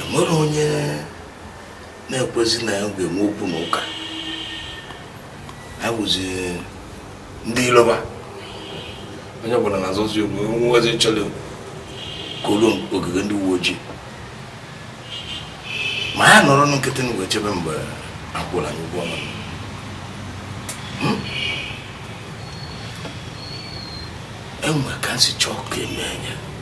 enwerọ onye na-ekwezi na ya ga-enwe okwu na ụka ha bụzi ndị iloba onye ọbụla na-azọzi onwe nwezi chọrọ koro ogige ndị uwe ojii ma ya nọrọ nkịtị na wee chebe mgbe akwụla anyị ụgwọ ọnụ hmm? enwe ka m si chọọ ka eme anya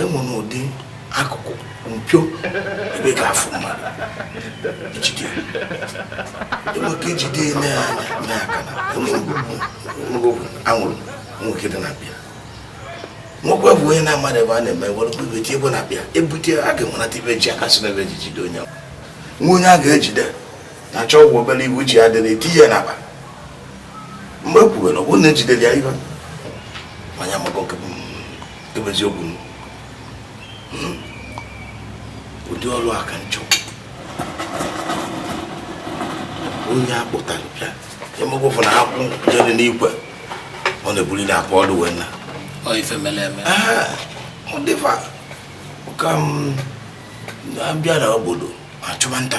enwere ụdị akụkụ mpio ebe ga-afụ mmadụ ejide enweke ejide eme ya anya anya aka na enwegwu anwụrụ nwoke dị na bịa nwoke bụ onye na-amadị ebe a na-eme were ebe tie ebe na bịa ebute a ga-enwenata ibe ji aka si n'ebe eji jide onye ahụ nwa onye a ga-ejide na achọ ọgwụ obere iwu ji ya dị na eti ya n'akpa mgbe e kwuwere ọ bụrụ na ejidere ya ihe manya maka oke eziokwu hmm. ụdị ọrụ a ka nchọ onye akpụtara bịa emegbe ụfụ na akwụ jere n'igwe ọ na-ebuli na akwa ọdụ wee na ife mere eme ọ dịfa ka m bịa na obodo achụba nta